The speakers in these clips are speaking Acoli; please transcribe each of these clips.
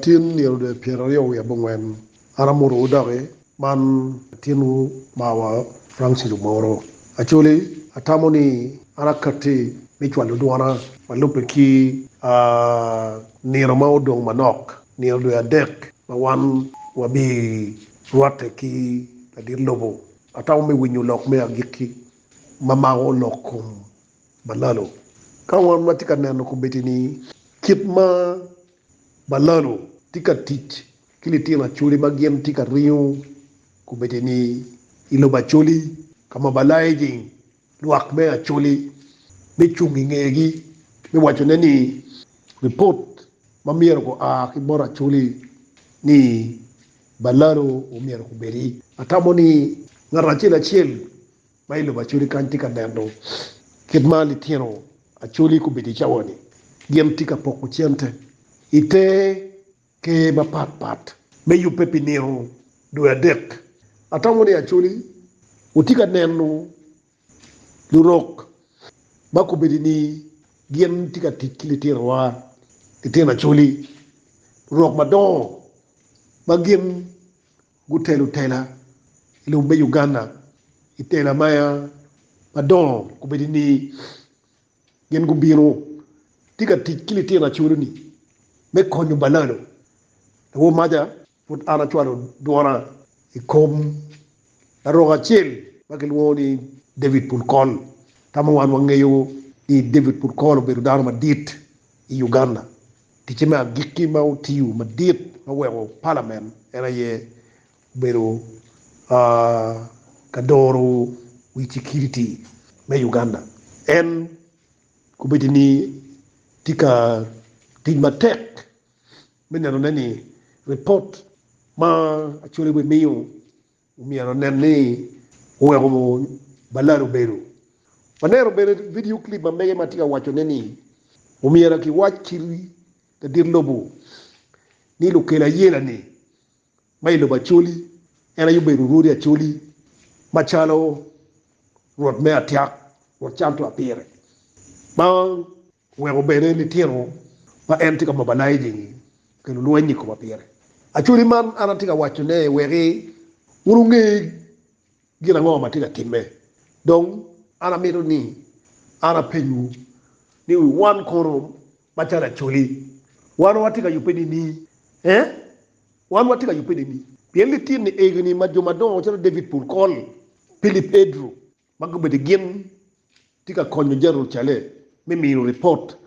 Tin nino dwe pyeraryo wiye abongwen an amotowu doki, man latinwu mawa Francis Omoro. Acholi, atamo ni an akatti me cwalo dwona ma lubbe ki a nino ma odong manok, nino dwe adek ma wan wabi rwatte ki ladit lobo. Atamo me winyo lok me agikki ma mako lok kom Balalo. Ka wan watye ka neno kobeddi-ni, kit ma Balalo tye ka tic ki litino Acoli ma gin tye ka ringo kobeddi-ni i lobo Acoli ka ma Balaejing lwak me Acoli me cung i ngegi me wacone ni ripot ma myero gua ki bot Acoli ni Balalo omyero kobeddi, atamo ni ngat acel acel Ma i lobo Acholi kany tye ka neno kit ma litino Acholi gubedo i cawa-ni. Gin tye ka poko cente i te ker mapat pat me yubbe pi nino dwe adek. Atamo ni Acholi wutye ka neno lurok ma gubedo ni gin tye ka tic ki litinowa, litino Acholi, lurok madongo ma gin Gutelo tela i lobo me Uganda i tela ma madongo gubedo ni gin gubino tye ka tic ki litino acoloni me konyo balalo. Lawo maja pud an acwalo dwona i kom larok acel ma kilwongo ni David Pulkol. Tamo wan wangeyo ni David Pulkol obedo dano madit. I Uganda, ticce me agikki ma otiyo madit ma weko palamen en aye obedo ka doro wi cikiriti me Uganda. En kobedo ni tye ka tic matek me nenone ni ripot ma Acholi wemiyo, Myero onen ni oweko balada obedo. Waneno bene vidio clip ma mege ma tye ka wacone ni omyero kiwac ki ladit lobo ni lukelo ayela-ni ma i lobo Acholi en aye obedo Rwodi Acholi macalo Rwot me Atyak, Rwot Cantua pire. Weko bene litino ma en tye ka mobilizing-ngi okel olweny i koma pire. Actually man an atye ka waco ne weki wun wunge gin ango ma tye ka timme. Dong an amito ni an apenyowu ni wan kono macalo Acholi wan watye ka yubbe nini? Ee, wan watye ka yubbe nini? Pien litino egi ni ma jo madongo calo David Pulkol, Philip Edru, ma gubedo gin tye ka konyo Jerucalem me mino ripot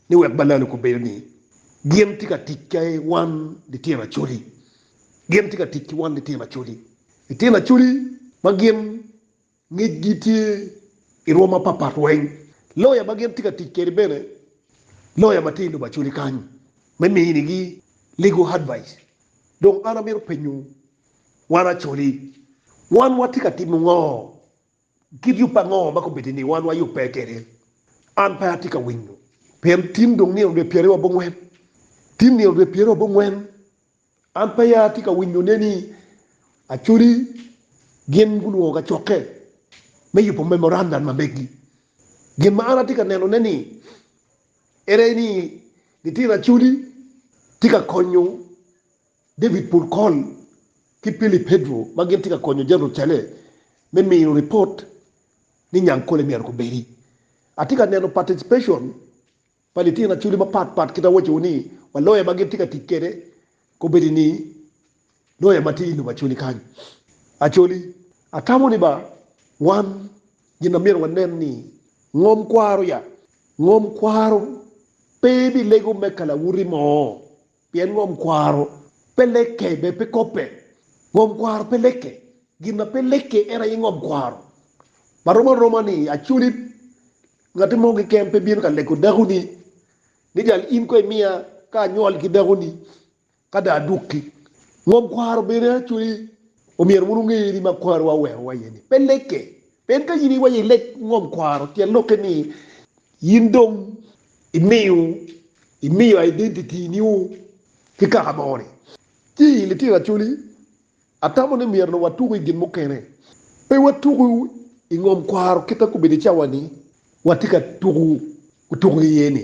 ni wek balalo kubedo ni gin tye ka tic ki wan litino Acholi. Gin tye ka tic ki wan litino Acholi. Litino Acholi ma gin ngecgi tye i rwom mapatpat weng, loya ma gin tye ka tic kwede bene loya ma tye i lobo Acholi kany me minigi legal advice. Dong an amito penyo Wan acoli, wan watye ka timo ngo? Kit yub pa ngo ma kobedo ni wan wayubbe kwede? An pe atye ka winyo, pien tin dong nino dwe pyeraryo abongwen. Tin nino dwe pyeraryo abongwen, an peya atye ka winyone ni acoli gin gulwongo kacokke me yubo memorandum ma megi. Gin ma an atye ka nenone ni ere ni litino acoli tye ka konyo. David Pulcon ki Philip Pedro ma gin tye ka konyo Jeneral Chale me miyo ripot ni nyang kole myero gubedi. Atye ka neno paticipecon pa litino Acholi mapat pat kit ma awaco-wu ni wa loya ma gin tye ka tic kwede kobedi ni loya ma tye i lobo Acholi kany. Acholi, atamo ni ba wan gin ma myero wanen ni ngom kwaro ya. Ngom kwaro pe bilego me kalawuti mo Pien ngom kwaro pe lekke, bed pe kobbe. Ngom kwaro pe lekke. Gin ma pe lekke en aye ngom kwaro. Ma rom aroma ni aculi ngati mo keken pe bino ka leko dakoni ni jal in ko imiya ka anywol ki dakoni ka dong adukki. Ngom kwaro bene aculi omyero wun wunge ni ma kwarowa owerowa iye ni pe lekke. Pien ka in iwaco i lek ngom kwaro, tyen lokke ni in dong imiyo imiyo identity niu ki kaka mo ni, ci i litino Acholi, atamo ni myero watuku i gin mukene. Pe watuku i ngom kwaro kita kobedo i cawa ni watye ka tuku otuku iye ni.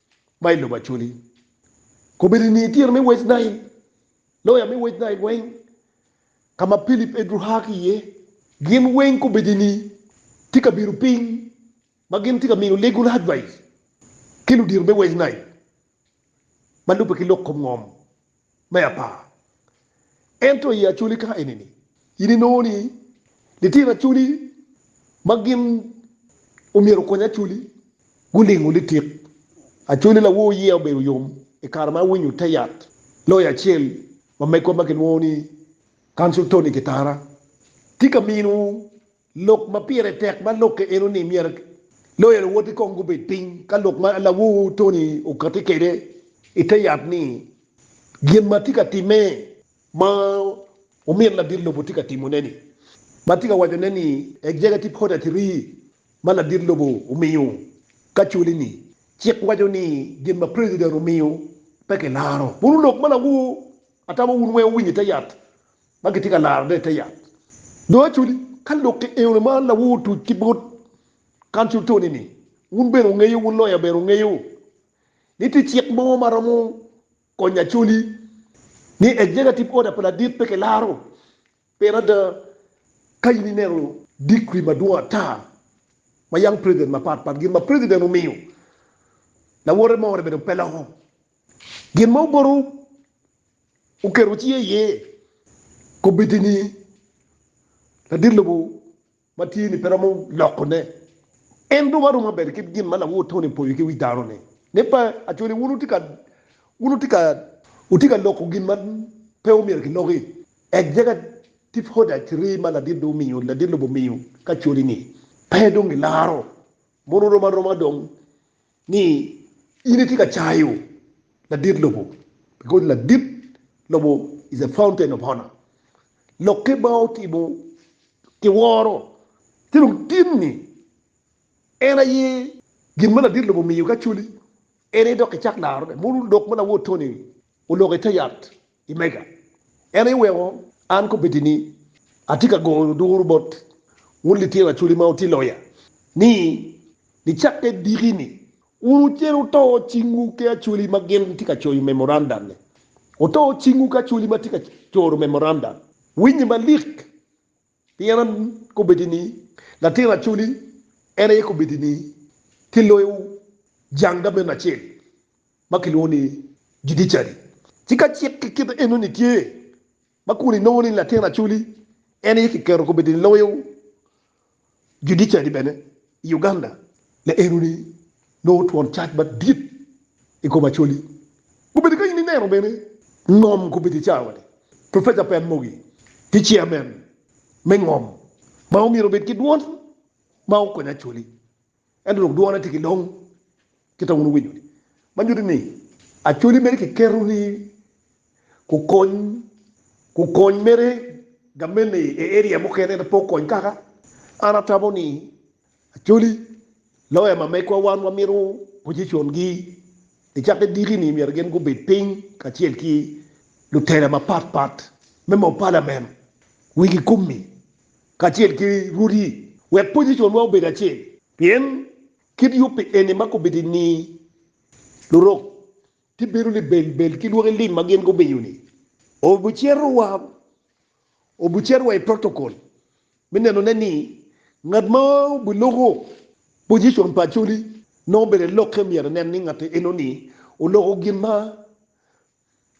ma i lobo Acholi. Kobedo i nge tira me West Nile, loya me West Nile weng, ka ma Philip Edru aa ki iye, gin weng kobedo ni tye ka bino piny ma gin tye ka miyo legal advice ki ludito me West Nile ma lubbe ki lok kom ngom. me apar. Ento i Acholi ka enini, in inongo ni litino Acholi ma gin omyero okony Acholi gulingo litik. Acholi lawor yiya obedo yom i kare ma awinyo te yat loya acel ma megwa ma kilwongo ni Council Tony Kitara tye ka mino Lok ma pire tek ma lokke eno ni myero loya luwoti kong gubed piny ka lok ma lawor Tony okati kede i te yat ni gin ma tye ka time ma omyero ladit lobo tye ka timo ne ni ma tye ka waco ne ni executive order three ma ladit lobo omiyo ka culi ni cik waco ni gin ma president omiyo pe ki laro. Puru lok ma lawor atamo wun weng owinyo i te yat ma kitye ka larone i te yat. Dong acodi ka lok ki eune ma lawu otuc ki bot kan cul toni-ni, wun bene wungeyo, wun loya bene wungeyo, ni tye cik mo ma romo konyo acoli, ni Executive Order pa ladit pe kilaro. Pien ada, ka in ineno decree madwong ata ma yam president mapat pat gin ma president omiyo, lawote more bene pe loko. Gin ma oboto oketo cinge iye kobeddi ni ladit lobo ma tye ni pe romo loko ne. En dong aromo bedo kit gin ma lawor Tony opoyo ki wi dano ni, ne pa Acholi wun wutye ka wun wutye ka wutye ka loko gin ma pe omyero ki loki. Executive order three ma ladit dong omiyo ladit lobo omiyo ki Acholi ni pe dong gilaro mono rom aroma dong. Ni in itye ka cayo ladit lobo because ladit lobo is a fountain of honor. Lokke ma otimo ki woro ci dong tin ni en aye gin ma ladit lobo omiyo ki acholi en aye dok ki cak laro ne. Mono lok ma lawor Tony oloko ite yat I mega, en aye weko an kobedi ni atye ka goyo duru bot wun litino Acholi ma wutye loya, ni nicakke diki-ni, wun wucito wuto cingwu ki Acholi ma gin tye ka coyo memorandum-mi. Wuto cingwu ki Acholi ma tye ka coro memorandum. Winye malik, Pien akobbi ni, latin acoli en aye kobedi ni kiloyo jang gamente acel ma kilwongo ni judiciary. Ci ka cik ki kite enoni tye ma kun inongo ni latin acoli en aye kiketo kobedi ni loyo judiciary bene i Uganda, le enoni Nongo twon cac madit i kom Acholi gubedo ka in ineno bene ngom kubedo i cawa-ni. Professor Pen Mogi tye chairman me ngom ma omyero obed ki dwon ma okony Acholi ento dong dwone tye ki long kita wun wuwinyo ni ma nyuti ni Acholi mere ki keto ni kukony kukony mere gamente i area mukene ento pe okony kaka an atamo ni Acholi, loya ma megwa wan wamito pojicongi i cakke diki-ni myero gin gubed piny kacel ki lutela mapat pat me moo palamen wigi kumi kacel ki rwodi wek pojiconwa obed acel. Pien kit yubbi eni ma kubiti-ni, lurok gibedo libelbel ki lwaki lim ma gin gumiyo-ni, obicito wa. Obucer wa i protokol me nenone ni ngat ma obiloko pojicon pa Acholi nongo obedo i lokke myero enen ni ngat enoni oloko gin ma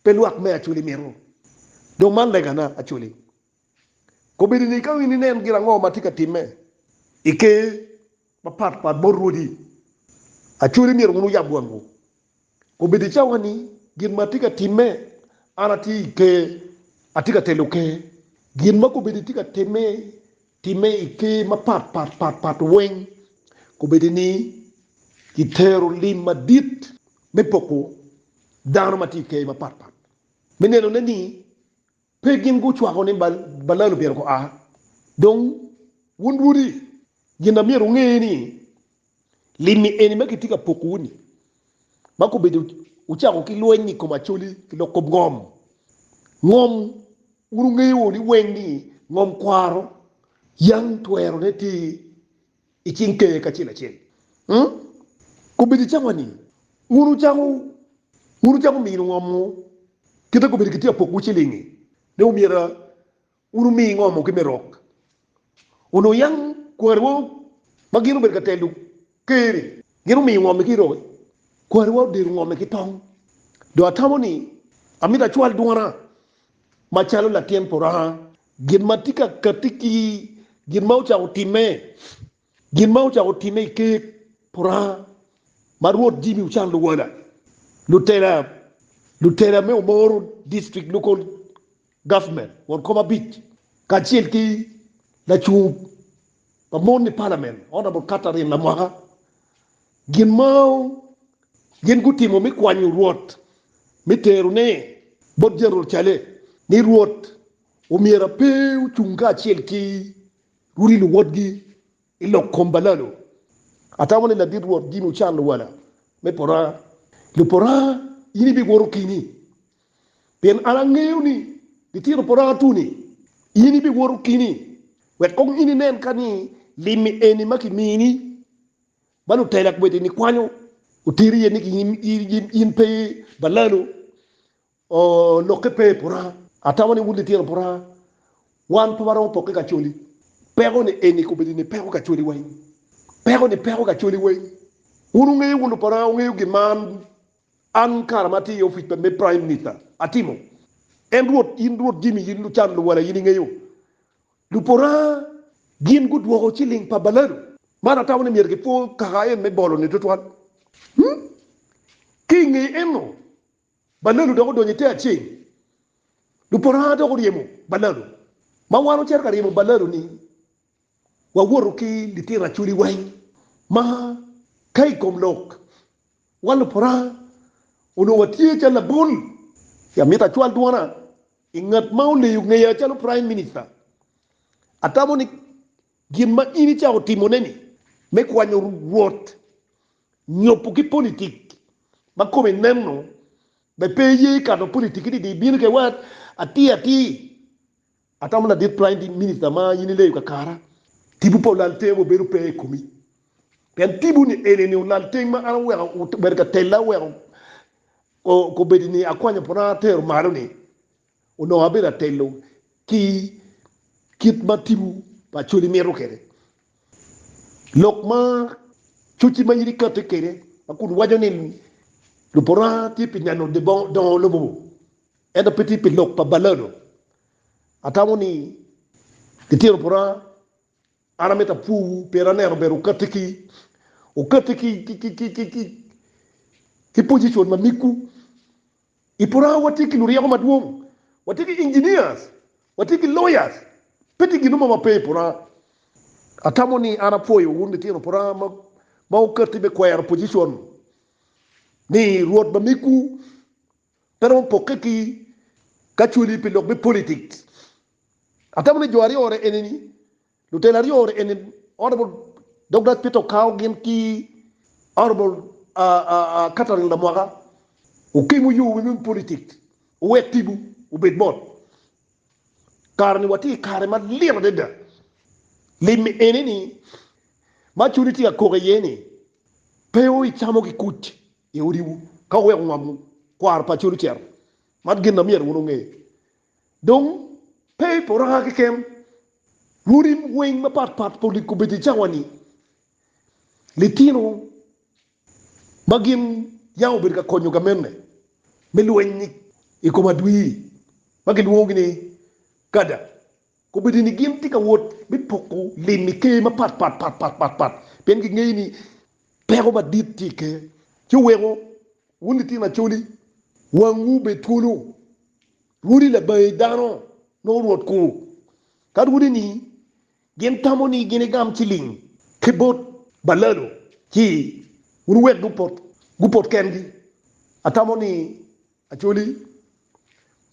pe lwak me Acholi mito. Dong man legana, Acholi. Kobedini ka in inen gin ango ma tye ka timme i Ker, mapat pat bot rwodi. Acholi myero wun wuyab wangwu. Obed i cawa-ni, gin ma atye ka timme, an atye i Ker, atye ka telo Ker. Gin ma kobedi tye ka timme, timme i Ker mapat pat pat pat weng. Kobedi ni kitero lim madit me poko dano ma tye i Ker mapat pat, me nenone ni, Pe gin gucwako ni Balaam myero gua. Dong, wun lwodi, gin ma myero wunge ni, limmi eni ma kitye ka pokowu-ni, ma kobedo wucako ki lweny i kom Acoli ki lok kop ngom, ngom, wun wungeyo ni weng ni ngom kwaro, yam twerone tye i cing Ker kacel acel. Kobedo i cawa ni wun wucako wun wucako mino ngomo kite kobedo ki tye apokwu cilingi ne omyero wun wumi ngomo ki me rok onongo yam kwari wa ma gin obedo ka telo Ker ni gin omiyo ngomi ki rok kwari wa odero ngomi ki tong do atamo ni amito acwal dwona macalo latin puranga Gin ma tye ka katti ki gin ma ocako timme, gin ma ocako timme i ker Puranga ma Rwot Jimmy ocano luwala, lutela, lutela me Omoro District Local Government won kom abic, kacel ki lacung pa mon i Parliament Honourable Catherine Lamwaka Gin ma gin gutimo me kwanyo Rwot me terone bot Jerucalem ni Rwot omyera pe ocung kacel ki Rudi luwotgi i lok kom balalo. Atamo ni ladit Rwot gin ocan luwala me pora, lupora in ibiwoto kini, pien an angeyo ni litino pora atuni in ibiwoto kini, wek kong in inen ka ni limmi eni ma kimini. Ba lutela kwede ni kwanyo oteri iye ni in pe balalu lokke pe puranga. Atamo ni wun litino puranga wan pe waromo pokke kacoli. Peko ni eni kobedo ni peko kacoli wa eni. Peko ni peko kacoli wa eni. Wun wungeyo wun lupuranga wungeyo gin ma an an kara ma atye i opic pa me prime minister atimo. En rwot in rwot Jimmy in lucan luwala in ingeyo. Lupora gin gudwoko ciling pa baladu man atamo ni myero gipwo kaka en me bolo-ni tutwal. Ki i nge eno, baladu dok odonyo i te aceng. Lupora dok oryemo baladu. Ma wan ocito ka ryemo baladu-ni, wawoto ki litino acoli weng ma ka i kom lok, wan lupora onongo watye calo labol. Amito acwal dwona I ngat ma oleyo ngeya calo Prime Minister, atamo ni gin ma in icako timone-ni me kwanyo rwot nyopo ki politik ma kome neno be pe iye ikato politik-ki didi ibino kede wat atir atir. Atamo ladit Prime Minister ma in ileyo kakara, tipo pa olaltenge wa bedo pe i komi. Pien tiponi eni ni olalteng ma an oweko obedo ka tella oweko Kobedi ni akwanyo pwona atero malo-ni, onongo abedo atelo ki kit ma tipo pa Acholi mito kwede. Lok ma cocci ma in ikatte kwede ma kun waco ni lupwona tye pi neno dongo lobo ento pe tye pi lok pa balado, atamo ni litino pwona An amito apwowu, pien aneno ber okatti ki okatti ki ki position ma migwu. I Puraha watye ki luryeko madwong, watye ki engineers, watye ki lawyers, pe tye gin mo ma pe i Puraha. Atamo ni an apwoyo wun litino Puraha ma ma okatti me kwero position ni Rwot ma migwu Pe romo pokke ki ka cweli pi lok me politics. Atamo ni jo aryo ore enini, lutela aryo ore eni Honourable Douglas Peter Okao gin ki Honourable Catherine Lamwaka Okim oyo wi me politics owek tipo obed mot. Kare ni watye i kare ma lit adada. Lim enini ma cwali tye ka kok iye ni pe o icamo ki kuc. i odiwu ka wuweko ngomwu kwaro pa col ocito. Man gin na myero wun wunge. Dong, pe i poraka keken, lulim weng mapat pat pa likobeddi cawa-ni, litino ma gin yam obedo ka konyo gamenne me lweny i kom adwir ma kilwongogi ni kada. Kombeddi ni gin tye ka wot me poko lim i ker mapatpat pien gingeyo ni peko madit tye i ker. Ci oweko wun litino acoli, wangwu obed twolo. Rwodi labangi dano nongo rwot kwo ka rwodi ni gin tamo ni gin egam ciling ki bot balalo ci wun wuwek gupot kengi. Atamo ni Actually,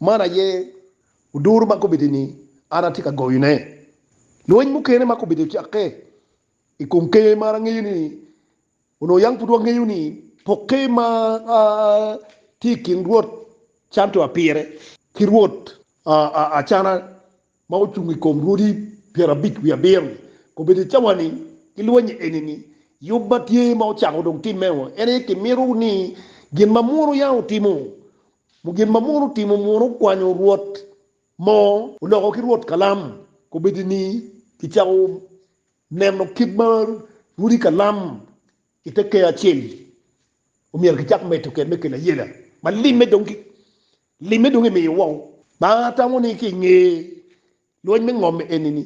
man aye oduru ma kombeddi ni an atye ka goyone. Lweny mukene ma kombeddi ocakke i kom ker ma angeyo ni onongo yam pud wangeyo ni pokke ma tye i kin Rwot Cantua pire ki Rwot Acana ma ocung i kom rwodi pyerabic wiye abiro-ni, kobedo i cawa ni, ki lwonye eni ni, Yub ma tye ma ocako dong timme o, en aye kimito ni gin ma muno ya otimo, mu gin ma muno otimo muno okwanyo rwot mo, oloko ki rwot kalam, kobedo ni kicako neno kit ma rwodi kalam i te keyo acel-li omyero kicak medo kede me kelo ayela ma limme dong ki Limme dong imiyo woko. Banga atamo ni ki i nge lweny me ngom eni ni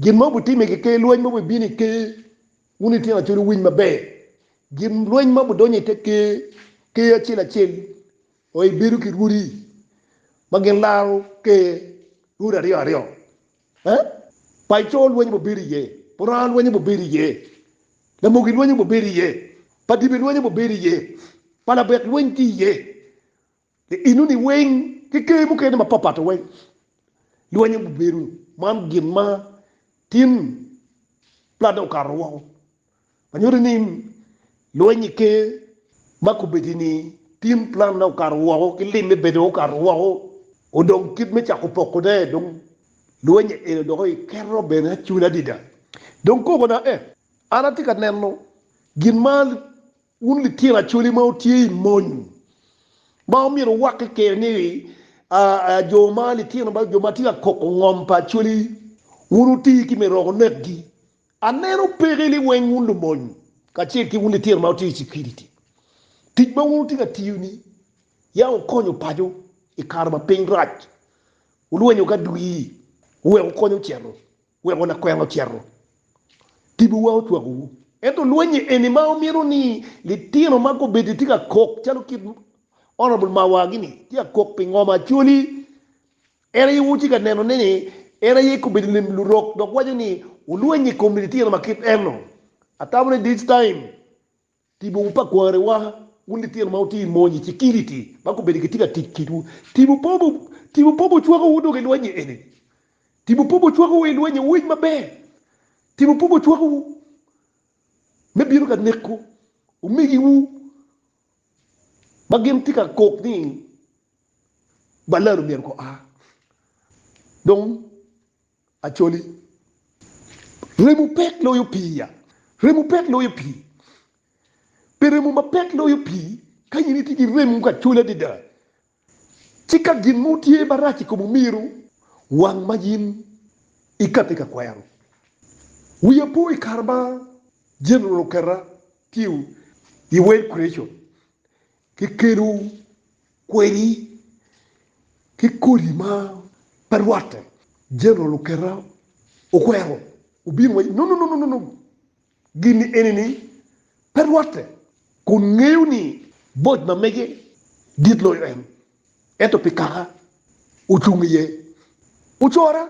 gin ma wubitime ki ker lweny ma wubibino i ker, wun ityen acol wuwiny maber. Gin lweny ma wudonyo i te ker, ker acel acel oye bedo ki rwodi ma gin laro ker rwodi aryo aryo. Eh? Pac coo lweny obibedo iye, puranga lweny obibedo iye, lamoki lweny obibedo iye, pa dibe lweny obibedo iye, pa labek lweny tye iye. I enoni weng ki ker mukene mapatpat weng, lwenyo gubedo man gin ma tin plat dok okato woko ma nyuto ni lweny i ker ma kobedo-ni tin plat dok okato woko ki lim me bedo okato woko. Odong kit me cako pokone dong lweny eno dok iketo bene acula adada. Dong kobona ee, an atye ka neno gin ma Wun litino Acholi ma wutye i mony, ma omyero wuwakke kene ni, aa, jo ma litino ma jo ma tye ka koko ngom pa Acholi, wun wuti ki me roko nekgi. Aneno peke ni weng wun lumony, kacel ki wun litino ma wutye i cukiriti, tic ma wun wutye ka tiyo-ni, ya wukonyo paco i kare ma piny rac, wulwenyo ki adwir, wuwek wukonyo ocito. Weko lakwena ocito tibowa ocwakowu. Ento lwenye eni ma wamito ni litino ma gubedo tye ka kok calo kit Honourable Mawar gi ni tye ka kok pi ngom Acholi en aye wutye ka neno ne ni en aye kobedo lim lurok dok waco ni wulwenye ikom litino ma kit eno. Atamo ni this time Tipo pa kwarewa, Wun litino ma wutye i mony, i cikiliti, ma gubedo gitye ka tic kitwu, tipo pa tipo pa ocwakowu dok i lweny-nyi eni. Tipo pa ocwakowu i lweny-nyi, wuwinj maber. Tipo pa ocwakowu me bino ka neko omegiwu ma gin tye ka kok ni, Balal omyero gua. Dong. Acholi, remo pek loyo pii-ya. Remo pek loyo pii. Pi remo ma pek loyo pii, ka in itye ki remo ka coli adada, ci ka gin mo tye marac i kom omiro wang ma in ikati ka kwero. Wiya po i kare ma General oketa tye i World Creation, Kikedo kwedi ki kodi ma pe rwatte. Jeneral oketa okwero obino waco, No, no, no, no, no, gin-ni eni-ni pe rwatte, kun ngeyo ni bot ma mege dit loyo en, ento pi kaka ocung iye, ocora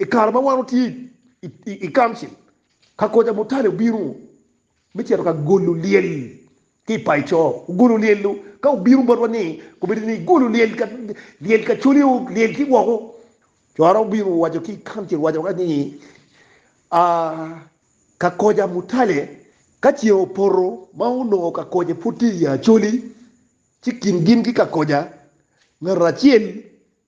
I kare ma wan watye i Council, ka Koca Mutale obino me cito ka golo lyel ki i paco, ogolo lyel-lu, ka obino botwa ni kobedo ni golo lyel ka lyel kacoli o lyel ki woko, co aromo bino waco ki i Council waco ka ni ka Koca Mutale ka ceng opoto ma onongo ka Koca pud tye i Acholi ci kin gin ki ka Koca ngat acel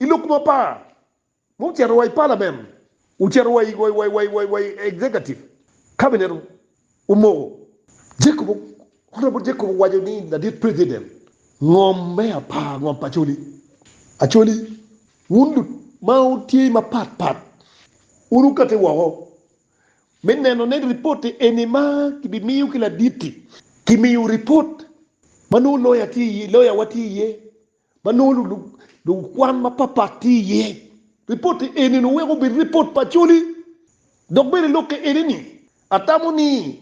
I lok mapar, ma ocito wa i palamen, ocito wa i wa i executive cabinet omoko, Jacob Honorable Jacob owaco ni ladit president ngom me apar ngom pa Acholi, Acholi wun lut ma wutye mapat pat wun wukati woko me neno ne report-ti eni ma kibimiyo ki ladit-ti, kimiyo report ma nongo lawyer tye iye, lawyer wa tye iye. ma nongo lukwan mapatpat tye iye. Ripotte eni nongo weko obed ripot pa coli. Dok bene lokke eni-ni, atamo ni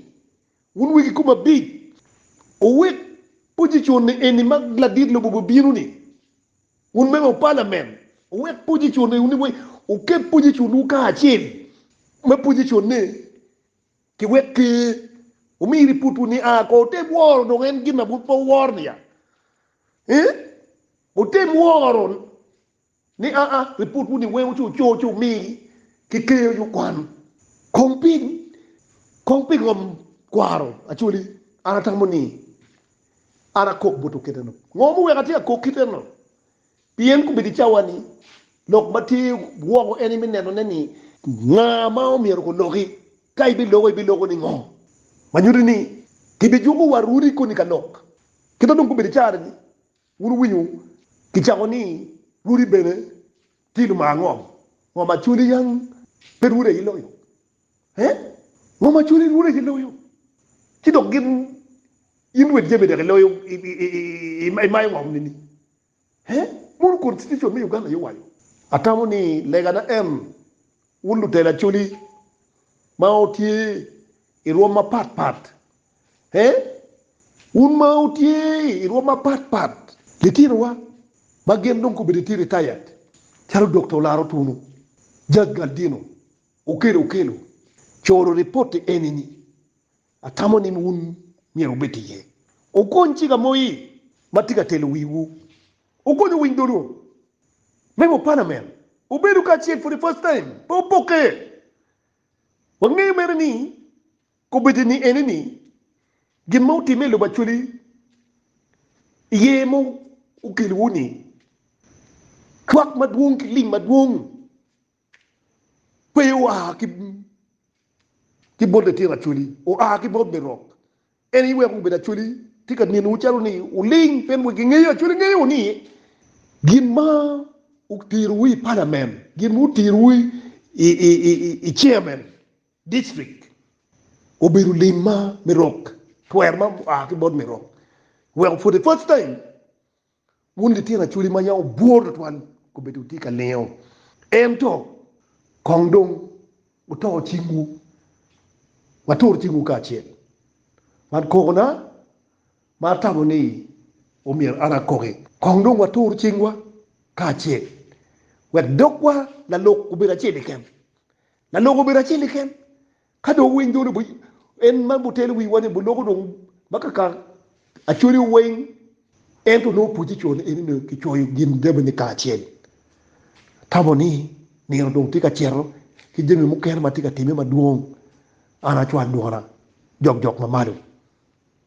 wun wegi kom abic wuwek pojicon-ni eni ma ladit lobo bibino-ni, wun member of parliament, wuwek pojicon-ni, wuket pojicon-wu kacel ma pojicon-ne Ki wek pe wumiri putwu ni, 'A ko wutem woro dong en gin ma bur pe wuworo ni ya? Ee, wutem woro ni a a ri putwu ni weng wuco coo ci wumigi ki keyo nyo kwan. Kong ping? Kong pingo am kwaro? Actually, an atamo ni an akok bot oketo enok. Ngo muweko atye akok kit enok? Pien kobedo i cawa-ni lok ma tye woko en me nenone ni nga ma omyero guloki, ka ibiloko, ibiloko ni ngo, ma nyuto ni kibijuko wa runi koni ka lok. Kita dong kobedo i cara-ni wun wuwinyo kicako ni runi bene tye lumar ngo, ngo ma cwali yang pe runi aye loyo? He? Ngo ma cwali runi aye loyo? Ci dok gin in wed jami dek iloyo, imayo ngo nini? He, mono Constitution me Uganda aye waco? Atamo ni lega na en, wun lutelo Acholi ma wutye i rwom mapat pat, he, wun ma wutye i rwom mapat pat, litinowa ma gin dong gubedo tye retired calo Dokta Olaro Tunu, Jaj Galdino, Okello Okello, coro ripoti eni ni Atamo ni wun myero wubed iye. Wukony ci gamoyi ma tye ka telo wiwu. Wukony owiny dolo me mupana mel. Wubedo kacel for the first time, pe wupokke. Wangeyo mere ni kobeddi ni ene ni gin ma wutimme i lobo Acholi iye ma okelowu ni cwak madwong ki lim madwong. Pe oa ki bot litino Acholi, oa ki bot me rok. En aye weko gubedo Acholi tye ka nenowu calo ni wuling pien wigi ngeyo. Acholi ngeyo ni gin ma oterowu i Palamen, gin ma oterowu i Chairman District obedo lim ma me rok, twer ma oa ki bot me rok. Weko for the first time Wun litino acholi ma yam wubwor tutwal, kombeddi wutye ka lingo. Ento kong dong wuto cingwu, watur cingwu kacel. Man kokona ma atamo ni omyero an akoki. Kong dong watur cingwa kacel, wek dogwa lalok obed acel keken. Lalok obedo acel keken, Ka dong wuwiny dwol obwiny, en ma butelo wiwa ni buloko dong ma kaka acwaliwu weng. Ento nongo pwocce co ni eni ni kicoyo gin jamini kacel. Tamo ni nino dong tye ka cito ki jami mukene ma tye ka timme madwong. An acwal dwona jokjok ma malo.